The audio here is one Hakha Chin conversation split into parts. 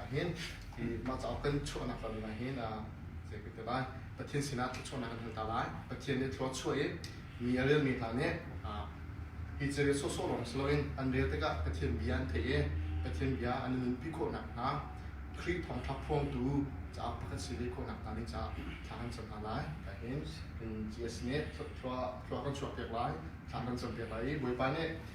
a hin mah cauk kan chuahnak ram ah hin zei ka ti lai Pathian sinah thluachuahnak kan hal lai Pathian nih thlua chuah i mi a relmi hna nih hi thil sawsawh lawng si loin an rel tikah Pathian bia an theih i Pathian bia an nunpi khawhnak hna Khrih thawngṭha phuangtu cauk pakhat si ve khawhnak hna nih caah thla kan cam hna lai ka hin in GS nih thlua kan chuahpiak lai thla kan campiak lai i Bawipa nih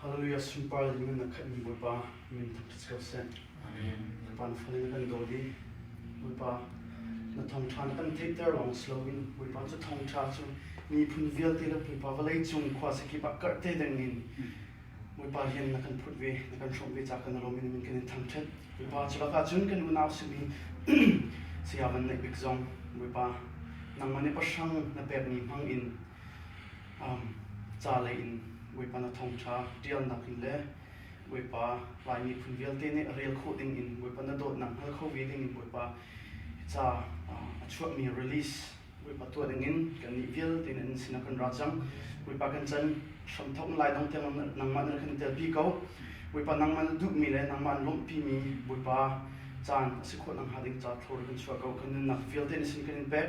Hallelujah sunpar in na khat mi Bawipa min thang ṭha cio seh. Amen. Bawipa na fale na kan daw i Bawipa na thawngṭha na kan theihter lawng si loin Bawipa cu thawngṭha cu miphun vialte le Bawipa vawlei cung khua sekip ah karhte deng in Bawipa rian na kan phut ve na kan hrawmh ve ca kan lawm in min kan in thangṭhat Bawipa cu lakah cun kan unau simi saya Van Neih Bik zong Bawipa nangmah nih pahrang na pekmi hmang in ca lei in Bawipa na thawngṭha ṭialnak in le Bawipa Lai miphun vialte nih rel khawh ding in Bawipa na dawtnak hngal kho ve ding in Bawipa ca a chuahmi release Bawipa tuah ding in kannih vialte in sinah kan ra cang Bawipa kan can hramthawk in laidang tiang nangmah na kan tel pi ko Bawipa nangmah na duhmi le nangmah an lawmhpimi Bawipa caan a si khawh nang hnga ding ca thlor kan chuah ko kan nunnak vialte in sin kan in pek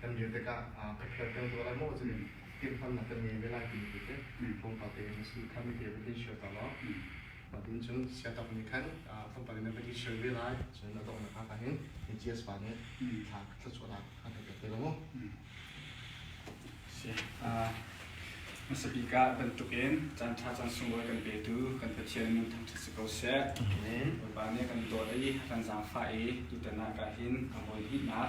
kan dir tikah ka fial kan tuah lai maw cun timhlamhnak kan ngei ve lai timi tu cu pumpak tein a si kha mi te va tin shio ta law patin cun setup nih khan pumpak in va tin shio ve lai cun a donghnak haka hin GS pa nih thla thla chuah nak haka ka te la mu si Masapi ka bantukin chan tha chan sungol kan petu kan pathian nun thang si ko se Bapak ne kan dawt i kan zang fa i tutana ka hin ka bon hi na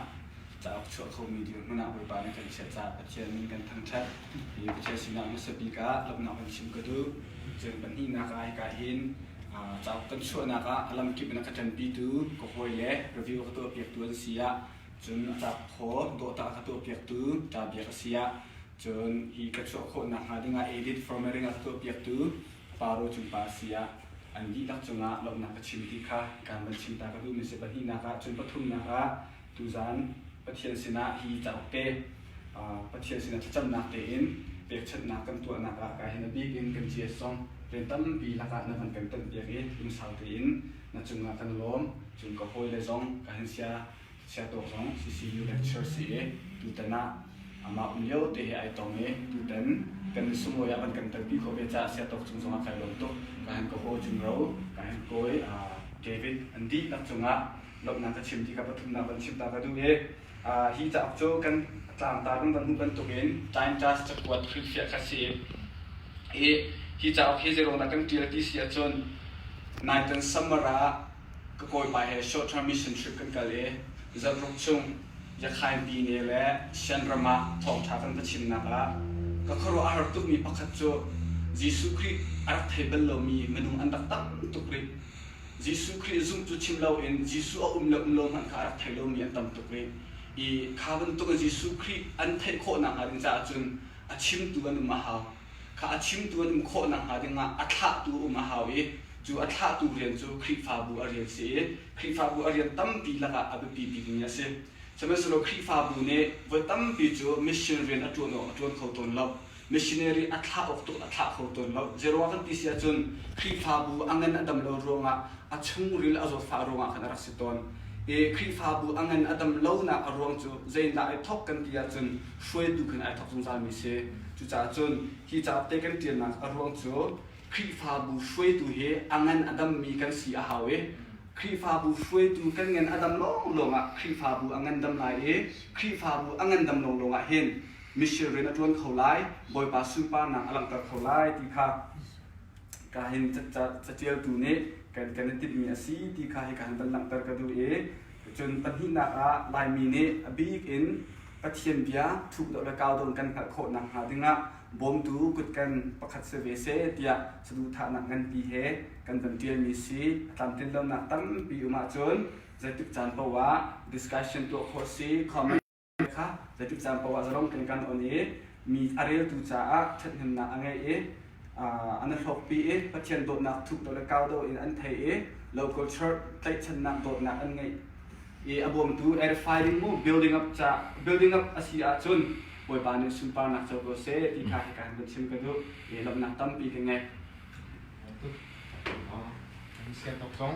cauk chuah khomi ding hmun ah Bawipa nih kan i chiah caah Pathian min kan thangṭhat i Pathian sinah hmasa bik ah lawmhnak kan chim ka duh. Cun pahnihnak ah hika hin cauk kan chuahnak ah a lam kip in a ka ṭanpitu ka hawi le review ka tuahpiaktu an si ah cun a ṭap thaw dawhta ka tuahpiaktu ṭa biak a si ah cun hi ka chuah khawhnak hnga dingah edit formatting a ka tuahpiaktu Paro cungpa a si ah an dihlak cungah lawmhnak ka chim ti kha kan van chim ta ka duhmi si pahnihnak ah cun pathumnak ah Tuzan Pathian sinah hi cauk te, Pathian sinah thlacamnak tein pekchanhnak kan tuahnak ah ka hin a bik in kan GS-zong rian tampi lakah na van kan tonpiak i lungsau tein na cungah kan lawm. Cun ka hawile zong ka hin sia Siatawk zong CCU lecturer si i tutan ah amah um lio te he ai tong i tutan kan sunglawi ah van kan kalpi khawh ve caah Siatawk cung zongah kai lawm tuk. Ka hin ka haw Jun Ro, ka hin kawi David Andy lak cungah dawtnak ka chim ti kha pathumnak van chim ta ka duh i hi cauk cu kan tlangtar kan van hmuh bantuk in time task cakuat hrilhfiah kha si i hi cauk hi zeirong na kan tial ti si ahcun night and summer ah ka kawipa he short term mission trip kan kal i zaruk chung yakhainpi ne le shanram ah thawngtha kan va chimnak ah ka khuaruah a rak tukmi pakhat cu Jesuh Khrih a rak thei bal lomi minung an rak tam tuk rih Jesuh Khrih zumh cu chim loin Jesuh a um le um lo hmanh kha a rak thei lomi an tam tuk rih. I kha bantuk in Jesuh Khrih an theih khawhnak hnga ding caah cun a chimtu an um a hau. Kha a chimtu an um khawh nakhnga ding ah a thlahtu um a hau i cu a thlahtu rian cu Khrihfabu a rian si i Khrihfabu a rian tampi lakah a biapi bikmi a si. Sihmanhsehlaw Khrihfabu nih voi tampi cu mission rian a ṭuan awk a ṭuan kho tawn lo. Missionary a thlah awk tu a thlah kho tawn lo. Zeiruang kan ti si ahcun Khrihfabu a ngan a dam lo ruangah a chungril a zawtfah ruangah khan a rak si tawn. I Khrihfabu a ngan a dam lonak a ruang cu zeidah ai thawk kan ti ahcun hruaitu khin ai thawk zungzalmi si. Cucaah cun hi capte kan ṭialnak a ruang cu Khrihfabu hruaitu hi a ngan a dammi kan si a hau i Khrihfabu hruaitu kan ngan a dam lawnglawng ah Khrihfabu a ngandam lai i Khrihfabu a ngandam lawnglawng ah hin mishir rian a ṭuan kho lai, Bawipa sunparnak a langhter kho lai ti kha ka hin catialtu nih kan kan i timhmi a si ti kha hi ka han van langhter ka duh i cun pahnihnak ah Laimi nih a bik in Pathian bia thukdawh le kaudawn kan hngalh khawh nakhnga dingah bawmtu kutkan pakhat si ve se tiah saduhthahnak nganpi he kan van ṭialmi si a tlamtlin lonak tampi um ahcun zeitik caan paoh ah discussion tuah khawh si comment kha zetik caan poah zarom kan kan on i mi a reltu caah ṭhathnemnak a ngei i an hlawkpi i Pathian dawtnak thup do le kau do in an thei i local church tlaihchannak dawtnak an ngeih i a bawmtu edifying mu building up ca building up a si ahcun Bawipa nih sunparnak co ko seh ti kha hika han kan chim ka duh i lawmhnak tampi ka ngei. Kan sian tok zong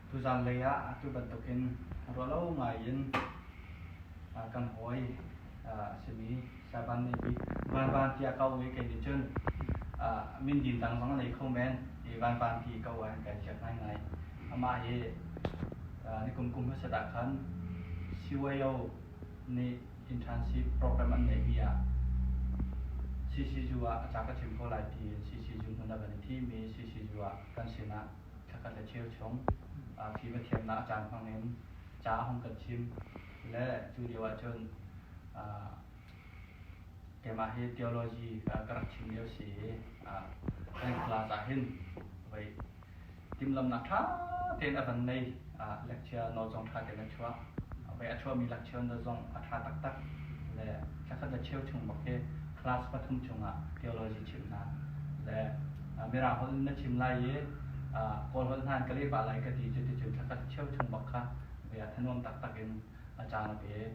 Tuzaan lei ah atu bantukin rualo ngai in kan hawi a simi Saban nih hi Vanvan tiah kau i kei nih cun mindin dang zong nei kho men i Vanvan ti kau ah kan ciak ngaingai. Amah hi nikum kum hmasa dah khan CYO nih internship program an neihmi ah CCZU ah a ca ka chim ko lai ti in CCZU hmun ah kan i thimi CCZU ah kan sinah thlakhat le cheu chung phi pathiannak a caan hmang in ca a hung kan chim le cu lio ah cun keimah hi theology ka rak chim lio si i kan class ah hin voi timhlamhnak ṭha tein a van nei ah lecture lawzong ṭha tein a chuah. Voi a chuahmi lecture na zong a ṭha taktak. Le thlakhat le cheu chung bak hi class pathum chungah theology chimh hna. Le Mirang holh na chim lai i Kawl holh hna in ka leh pah lai ka ti. Cuticun thlakhat cheu chung bak kha voi ah thanuam taktak in a caan a pek.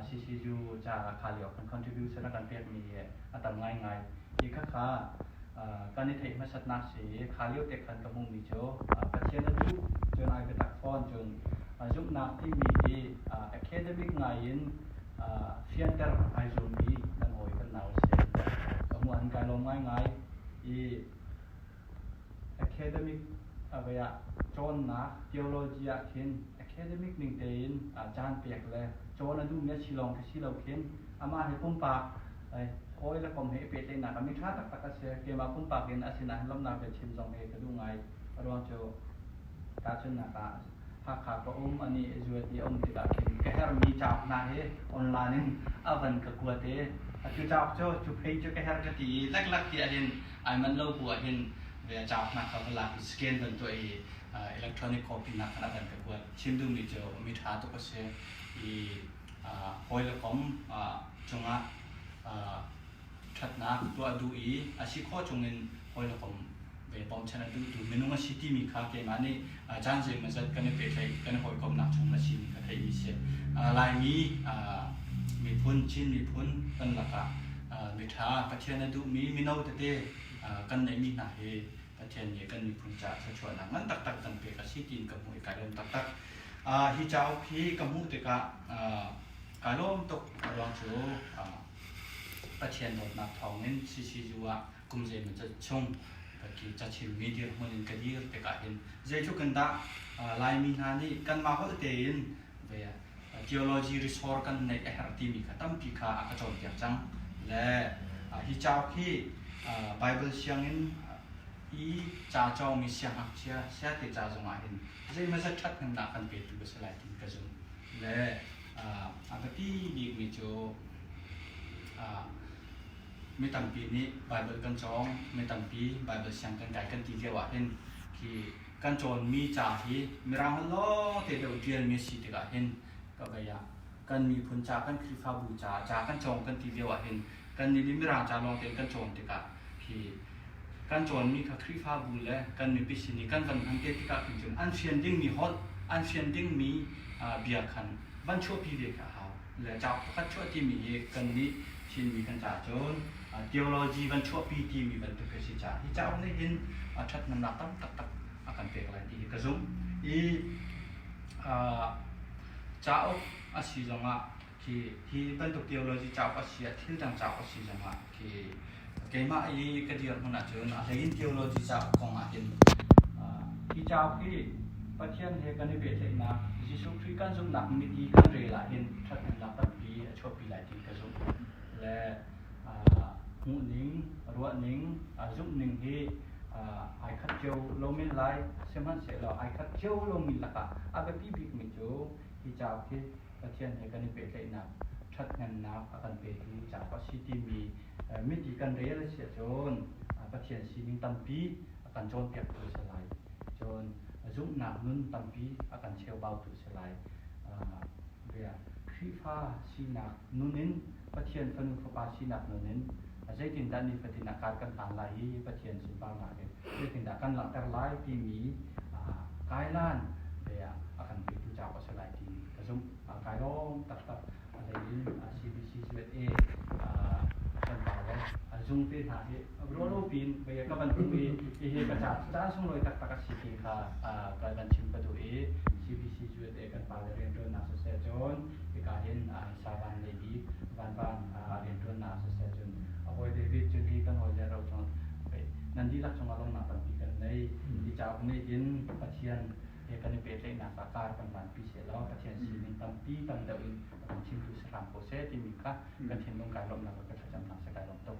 CCU ca ah kha lio kan contribution a kan pekmi hi a tam ngaingai. Hi khakha kan i theih hmasatnak si i kha lio te khan ka hmuhmi cu Pathian a duh, cun ai biatak fawn. Cun zumhnak timi hi academic ngai in fianter ai zuammi kan hawi kan nau a si an ti. Ka hmuh an kai lawm ngaingai i Academic ah cawnnak theology ah khin academic ning tein caan pek le cawn a duhmi a si lawng khi si lo khin amah hi pumpak hawi le kom he i pehtlaihnak a miṭha taktak a si. Keimah pumpak in a sinah hin lawmhnak biachim zong hi ka duh ngai. Aruang cu tahchunhnak ah a si. Hakha ka um, a nih zuat i a um tikah khin ka herhmi cauk hna hi online in a van ka kuat i cu cauk cu cu pei cu ka herh ka ti i leklak ti ahhin ai manh lo bu ahhin ve cauk hna kha va lak i scan van tuah i electronic copy hna kha a van ka kuat. Chim duhmi cu mi ṭha tuk a si i hawi le kom cungah ṭhatnak tuah duh i a si khawh chungin hawilakom ve bawmchan a duhtu minung a si timi kha keimah nih caan zeimah zat kan i pehtlaih kan i hawikomnak chung a simi ka theimi si Laimi miphun Chin miphun kan lakah miṭha Pathian a duhmi mino tete kan neihmi hna hi Pathian nih kan miphun caah thluachuahnak ngan taktak kan pek a si tiin ka hmuh i ka lawm taktak. Hi cauk hi ka hmuh tikah kaa lawm tuk ruang cu Pathian dawtnak thawngin CCU ah kum zeimaw cat chung paki cachimmi dirhmun in ka dir tikah hin zeitluk in dah Laimi hna nih kanmah holh tein theology resource kan neih a herh timi kha tampi kha a ka cawnpiak cang. Le hi cauk hi Bible sianginn i ca cawngmi siangngakchia siate ca zongah hin zeimazat ṭhathnemnak kan petu ka si lai timi ka zumh. le a biapi bikmi cu mi tampi nih Baibal kan cawng mi tampi Baibal siang kan kai kan ti lio ah hin khi kan cawnmi ca hi mirang hal lawng te deuh ṭialmi a si tikah hin ka bei ah kan miphun ca kan khrihfabu ca ca kan cawng kan ti lio ah hin kan nih nih mirang ca lawng tein kan cawn tikah kan cawnmi kha Khrihfabu le kan mipi sin i kan van hmante tikah khin cun an fian dingmi holh, an fian dingmi bia khan van chuahpi ve kha a hau. Le cauk pakhat chuah timi hi kan nih Chinmi kan ca cun theology van chuahpi timi bantuk hi si ca. Hi cauk nih hin ṭhathnemnak tam taktak a kan pek lai ti hi ka zumh. I cauk a si zongah khi hi bantuk theology cauk a si ah thil dang cauk a si zongah khi keimah i ka dirhmun ahcun a hleiin theology cauk kong ahhin hi cauk hi Pathian he kan i pehtlaihnak Jesuh Khrih kan zumhnak mit i kan rel ahhin ṭhathnemnak tampi a chuahpi lai ti ka zumh le hmuhning ruahning zumhning hi ai khat cio lo men lai sihmanhsehlaw ai khat cio lomi lakah a biapi bikmi cu hi cauk hi Pathian he kan i pehtlaihnak ṭhathnemnak a kan pek hi cauk a si timi mit i kan rel a si ahcun Pathian sining tampi a kan cawnpiaktu a si lai. Cun zumhnak nun tampi a kan cheubaotu a si lai. Khrihfa sinak nun in Pathian Fanu Fapa sinak nunin zeitindah nifatin a kar kan hlan lai i Pathian sunparnak in zeitindah kan langhter lai timi kailan lei ah a kan petu cauk a si lai timi ka zumh. Kai lawm taktak a hlei in CBCZA a ṭanpar le a zung te hna hi ruahlopi in ka van hmuh i hihi ka caan sunglawi taktak a si ti kha ka van chim ka duh i CBCZA kan pale rianṭuannak siseh cun hika hin sa van lei bik vanvan rianṭuannak siseh cun a hawi David cu hi kan hawile ro chung nan dihlak cungah lawmhnak tampi kan nei hi cauk nih hin Pathian he kan i pehtlaihnak ah kar kan vanpi sehlaw Pathian sining tampi tam deuh in a kan thimtu si hram ko seh timi kha kan thinlung kai lawmhnak le kan thlacamnak seh kai lawm tuk.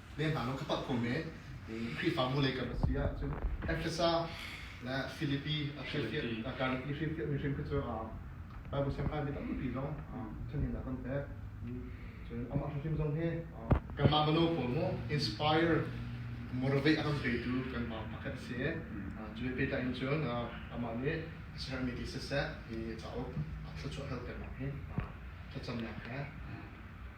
le hna lawng kha palh khawhmi Khrihfabu lei kam a si ahcun Efesa le Filipi a hrialfiahmi a karlak i hrialfiahmi hrim kha cu Baibal siangpahrang mi tampi zong ṭhangin a kan pek. Cun amah hrimhrim zong hi kanmah mino pawl maw inspire motivate a kan petu kanmah pakhat a si i cu he pehtlai in cun amah nih a sermi ti siseh i cauk a thluachuah hal ternak hi thlacamnak he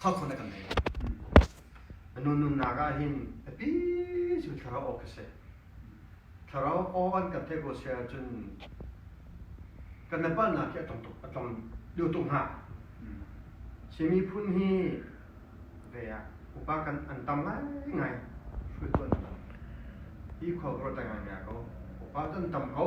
thawkho na kan ngei lai. A nunnak ah hin a pi cu thlarau aw ka si. Thlarau aw an kan theih ko si ahcun kan le palnak hi a tong tuk a tong dio tuk hnga. Chinmi phun hi ve ah upa kan an tam ngai ngai hruai tuan nam. Hi khua vro ta ngai mea ko. Upa ton tam ko.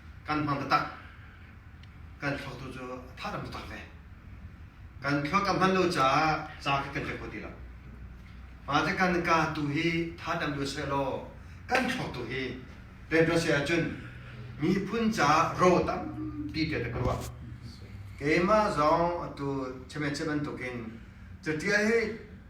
kan hmang taktak kan thlo tu cu tha dam tak ve kan thlo tam hman lo caah ca khi kan ve kho ti lo ma te kan ka tu hi tha dam lo se law kan thlo tu hi Pedro se ahcun miphun ca ro tampi te ka ruah keimah zong atu cheme cheban tukin catial hi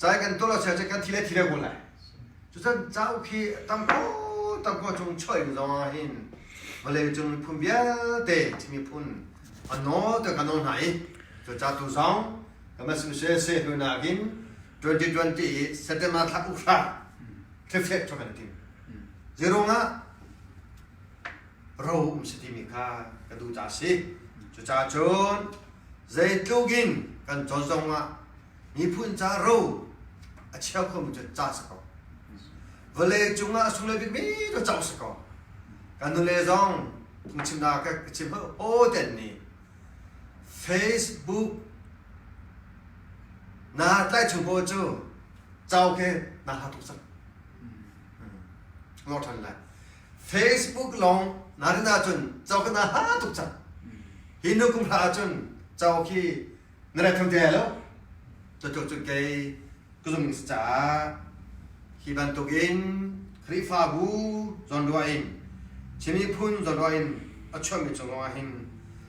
Cai kan tuah lo chia cu kan thi le thi le kun lai. Cucun cauk hi tamko tamko chung choih in zong ah hin vawlei cung miphun vialte Chin miphun a nawl te kan nawl hna i cu ca tu zong kan Association hnu nakin 2020 i September thla ukhra thlifeh chok kan tim. Zirung ah ro um si timi kha ka duh ca si cucacun zeitluk in kan cawn zong ah miphun ca ro a chia khomi cu ca si ko vale cungah sung le bikmi cu cang si ko kan nule zong chimna ka chim aw ten ni facebook na tlai chung ko cu chau ke na ha tuk sak lo than lai Facebook long narin ahcun cho kan aha tuk cang hi nu kum hra ahcun cho khi na ret thum te lo to to cun kei ku zung ning ca hi bantuk in khrifabu zon ruwa in chimi phun zon ruwa in a chuami chung long ah hin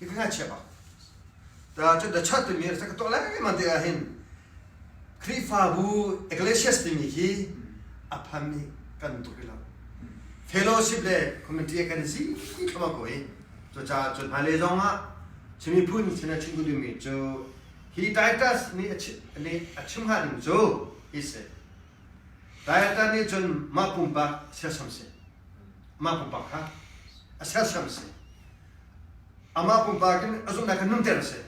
Hi ka chiap ah. Da cu da chat timi sa ka to lengmang te ah hin Khrihfabu Ecclesias timi hi a pham i kan tuk i lo. Fellowship le community kan si thoma ko i cu ca cu hna le zong ah chimi phun sena chin ku dimi cu hi Titus nih a chim ha ding cu hi se Titus nih cun mah pumpak sersiam si mah pumpak kha a sersiam si Amah pumpak in ka zumhnak kha nunter a si.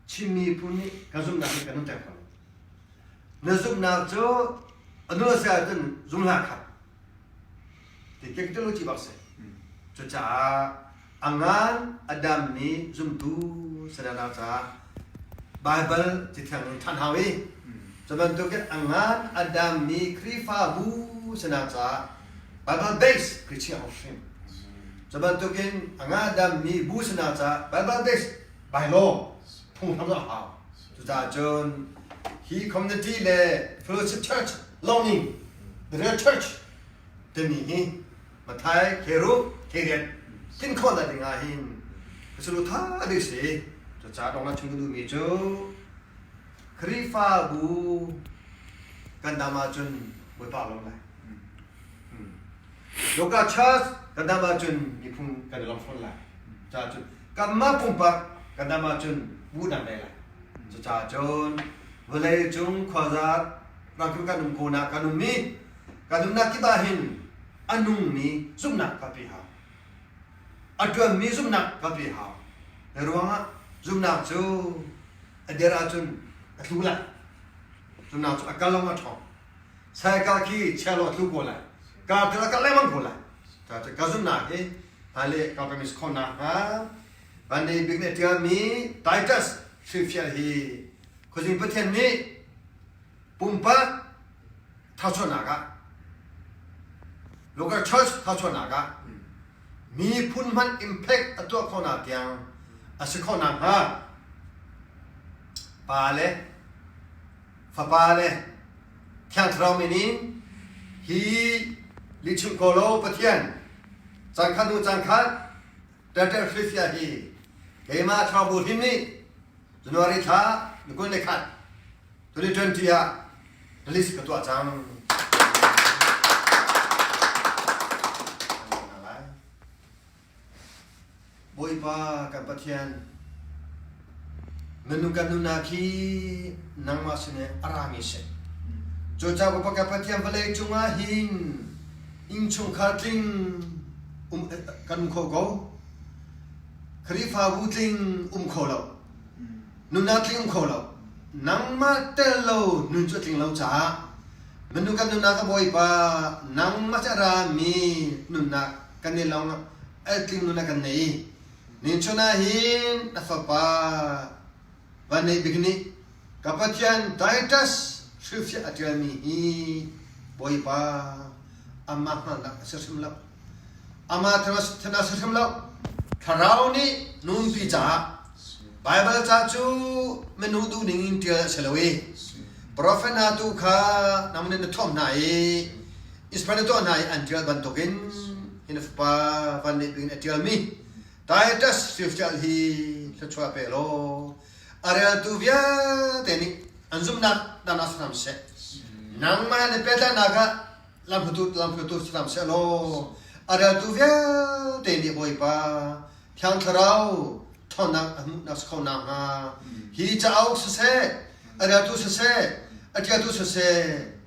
Chin miphun nih kan zumhnak hi kan nunter ko. Na zumhnak cu a nu se ahcun zumhla kha ti kek te lu ci bak se. Cucaah a ngan a dammi zumtu sadana caah Baibal ti theng ṭhan hau i cu bantukin a ngan a dammi Khrihfabu sinak caah Baibal base ka chia ko hrim. Cu bantukin a ngah dammi bu sinak caah Baibal base bylaw phunghram a hau. Cucaah cun hi community le fellowship church lawng nih the real church timi hi Mathai kheru kheriat tlin khawhnak ding ah hin ka sulu tha dei si cu ca dong la chung duhmi cu Khrihfabu kan dam ahcun Bawipa lo lai Yoga Church kan dam ahcun miphung kan long fawn lai ca cu kamma pumpak kan dam ahcun bu dang dai lai cu ca cun vawlei cung khuazat rangkil kan um ko nak kan um mi Ka nunnak kip ah hin a nungmi zumhnak kha pe hau, a ṭuanmi zumhnak kha pe hau. Hi ruangah zumhnak cu a der ahcun a tlu lai. Zumhnak cu a kal lawng a ṭhawng. Saikal khi chia law tlu ko lai, kar tel a kal lengmang ko lai. Cucaah ka zumhnak hi hmailei ka kan is khawh nakhnga Van Dei Bik nih a ṭialmi Titus hrilfial hi Khuazing Pathian nih Pumpak thawchuahnak ah, local church thawchuahnak ah miphun hmanh impact a tuah khonak tiang a si kho nakhnga pa le fapa le thiang thlarau min in hi lihchim ko law Pathian caan khat hnu caan khat Tetraphysia hi keimah chaubu hrim nih January thla ni kul le khat 2020 ah list ka tuah cang. Bawipa kan Pathian Na nu kan nu hna khi nangmah sin i a rami si. Cu ca upa ka pathian vawlei cungah hin innchungkhar tling um kan um kho ko. Khrihfabu tling um kho lo. Nuna tling um kho lo. Nangmah tel lo nun cu tling lo caah manu kan nuna ka bawipa nangmah ca rami nunnak kan nei long el tling nuna kan nei. Nichun ah hin na fapa Vanneihbik nih ka Pathian Titus hrilhfiah a ṭialmi hi Bawipa amah hngalhnak a si hrim lo. Amah thanah a si hrim lo. Thlarau nih nunpi caah Baibal ca cu minung duh ning in ṭial a si lo i profet hna tu kha nang nih na thuamh hna i Ismail a tuah hna i an ṭial bantukin hin a fapa vanlet in a ṭialmi Titus Swift'al hi thluachuah pe law a reltu vialte nih an zumhnak dan ah hram seh nangmah na pehtlaihnak ah lamhlutu lamhlutu hram seh law a reltu vialte nih Bawipa Thiang Thlarau thawnnak a hmuhnak si kho nakhnga hi cauk siseh a reltu siseh a ṭialtu siseh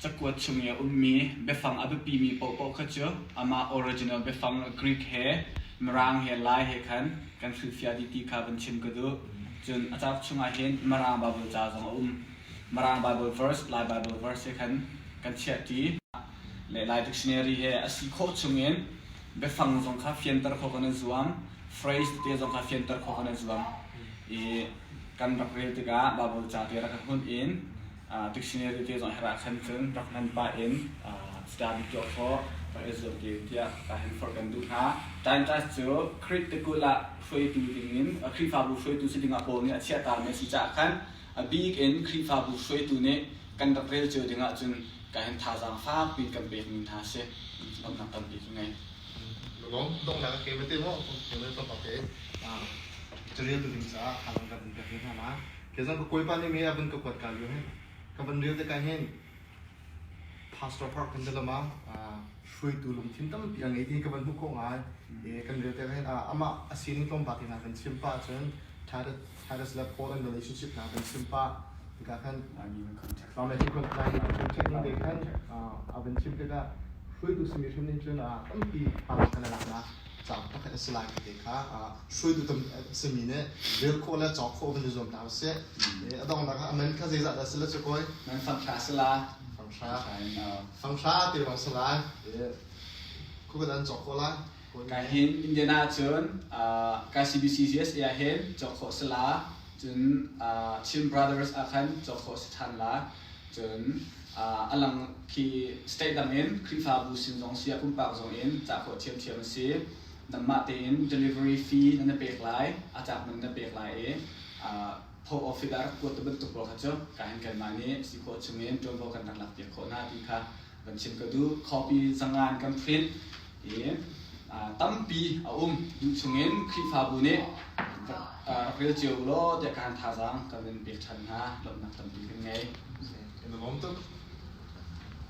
Cakuat chung i a ummi biafang a biapimi paohpaoh kha cu amah original biafang Greek he Mirang he Lai he khan kan hrilhfiah dih ti kha van chim ka duh. Cun a cauk chungah hin Mirang Baibal ca zong a um. Mirang Baibal verse, Lai Baibal verse he khan kan chiahṭi. Le Lai dictionary he a si khawh chungin biafang zong kha fianter khawh kan i zuam. Phrase tete zong kha fianter khawh kan i zuam. I kan rak rel tikah Baibal ca te rak ka hmunh in dictionary te zong her ah khan cun rak hman pah in study tuah khawh ka i zuam te tiah ka hen forh kan duh hna Times cu Krit te kul ah hruaitu dingin Khrihfabu hruaitu si dingah Paul nih a chiah ta mi a si caah khan a bik in Khrihfabu hruaitu nih kan rak rel cio dingah cun ka hen thazaang fak piin kan pek mi hna si lomnak tampi ka ngei. Donghnak ke bete mo ke me to ke carel tu ding caah halang kan pek hna ma Kezan ka kuipa nih me abun ka kuat ka yu hin ka van ril te ka hin pastor park kan delama hruaitu lungthin tampi a ngei ti ka van hmu ko ngai e kan ril te ka hin ama asining tlawmpa te hna kan chim pa cun Titus le Paul an relationship hna kan chim pa ka kan ma hi kan lai a thun thek ni be kan a van chim te ka hruaitu simi hrim nin cun tampi pang kan lak na caang pakhat a si lai ti te kha hruaitu a simi nih rel khawh le cawk khawh van i zuam hna usih. A donghnak ah amen kha zeizat dah si la cu koi? Man fanghra si la. Fanghra. Fanghra te bang si lai. Kukat an cawk khawh lai. Ka hin Indiana cun ka CBCGS ah hin cawk khawh si la cun Chin Brothers ah khan cawk khawh si than la Cun a lang khi state dangin Khrihfabu sin zong si ah pumpak zong in cah khawh ṭhiamṭhiam a si. Nangmah tein delivery fee nan na pek lai, a tlak man na pek lai i Pope of Fider kuat ti bantuk pawl kha cu ka hin kanmah nih si khawh chung in ṭuanvo kan rak lakpiak khawh hna ti kha kan chim ka duh copy zangan kan print i tampi a um duh chungin Khrihfabu nih rak rel cio law tiah kan thazaang kan in pek ṭhan hna lawmhnak tampi kan ngei. In the moment of